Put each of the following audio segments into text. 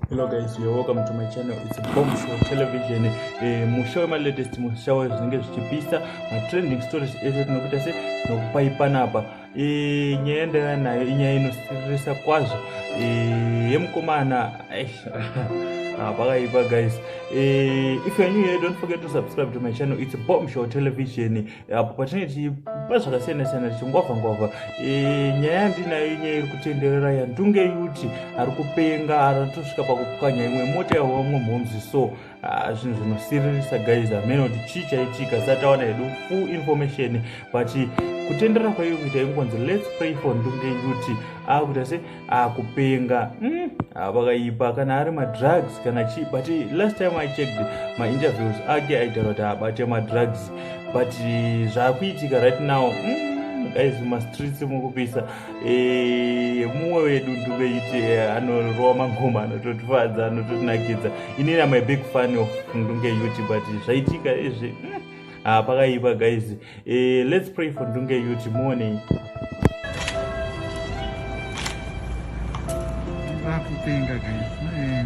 hello guys you're welcome to my channel it's a bomb show television eh, musha wema latest musha wezvinenge zvichipisa matrending stories ese tinokuita se nokupai panapa Eh, nyaya yandaiva nayo inyaya inosiririsa kwazvo eh, yemukomana ah, pakaipa guys eh, if you're new here don't forget to subscribe to my channel it's bomb show television apo patinenge tichipa zvakasiyana siyana tichingwavha ngwavha nyaya yandinayo inyaya iri kutenderera yandunge yuti ari kupenga aratosvika pakupwanya imwe mota yavo vamwe mhomzi so Ah, zvinhu zvinosiririsa guys hameno kuti chii chaitika zisati tawana hedu full information but kutendera kwaiyo kuita ingonzi lets pray for ndunge yuti akuita ah, se akupenga ah, hmm, vakaipa kana ari madrugs kana chii but last time i checked mainterviews ake aitaura kuti abate madrugs but zvaakuitika right now hmm, guys mumastreets mukupisa Eh, mumwe wedu nduve iti eh, anorova magoma anototifadza anototinakidza ini na my big fan of ndunge yuti but zvaitika izvi hmm, ah, pakaipa guys eh, let's pray for ndunge yuti muonei vakupenga guys eh,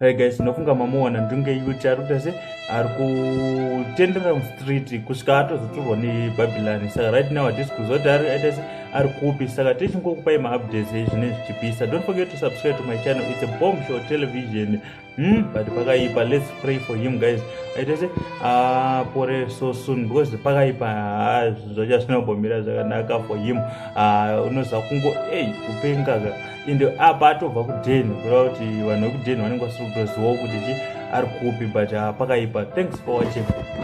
Hey guys, ndinofunga mamuona ndinge yuti ari kuita se ari kutendera mustreet kusvika atozotorwa nebhabhilani saka right now hatisi kuziva kuti ari aita se ari kupi saka tichingokupai maupdates ezvine zvichipisa don't forget to subscribe to my channel it's a bomb show television hmm? but pakaipa let's pray for him guys aita se apore ah, so soon because pakaipa ah, zvacha zvinobomira zvakanaka for him ah, unoziva kungo ei kupengaga ende apa atobva kuden kureva kuti vanhu vekuden vanenge vasiri kutozivawo kuti chi ari kupi but ah, pakaipa thanks for watching